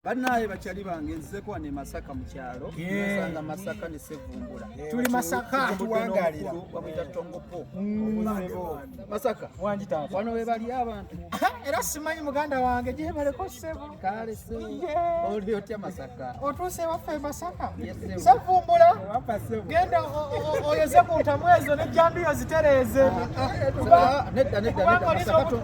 Banaye bakyali bange nzeko wane Masaka mu kyalo nasanga Masaka ne Sevumbula tuli Masaka tuwangalira wamuyita Tongopo mm. Masaka wangi taata wano we bali abantu era simanyi muganda wange gye baleko sebo kale sebo oli otya Masaka otuuse waffe Masaka Sevumbula genda oyoze ku ntamwezo ne jambiyo zitereeze ah, ah, ah, nedda nedda nedda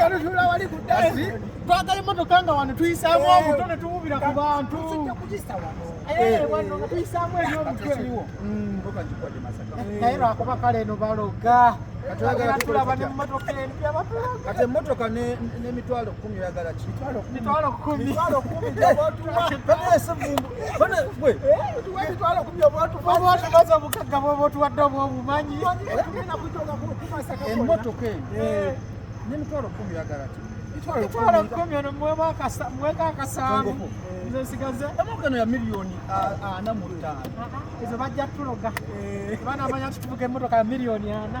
yalutula wali ku dasi twagala emotoka nga wano tuyisaamu eh. obuto ne tububira ku bantu eh, wano nga tuyisaamu ebyomutwe mm. naye eh, lwakuba kale eno baloga tulaba nemumotoka empya kati emotoka nemitwalo kumi oyagala ki mitwalo kumi emotoka eno nemitwalo kumi yagala ti mitwalo kumi ono mweka akasanvu nze nsigaze emotoka eno ya miliyoni ana mu ttaano ezo bajja tuloga banamanya nti tuvuga emotoka ya miliyoni ana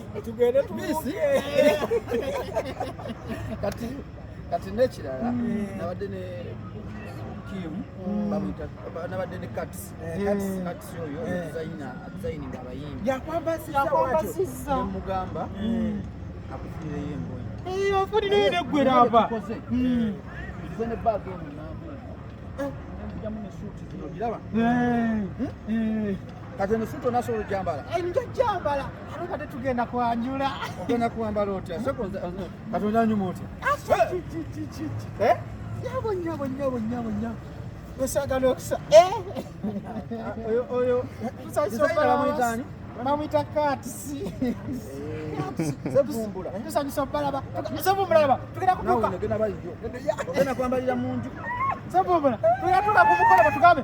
tugende tubisi kati kati nekirala mm. nabadde ne Kim mm. bamwita nabadde ne Kats mm. Kats oyo dizayina dizayininga abayimbi yakwambasiza mugamba akufulireyo engoye eyo afulireyo neggwera aba nze ne bag eno nambujamu ne suuti zino giraba kati eno suuti onasobola ojambala enja jambala ate kate tugenda kwanjula ogenda kwambala otya kati onyanyuma otya nyabo nyabo nyabo nyabo nyabo osagala okusa oyo oyo tusasomuyitani bamwita katisi tusanyusa obalaba sebumulaba tugenda kutuka ogenda kwambalira munju sebumula tugenda tuka kumukola batugambe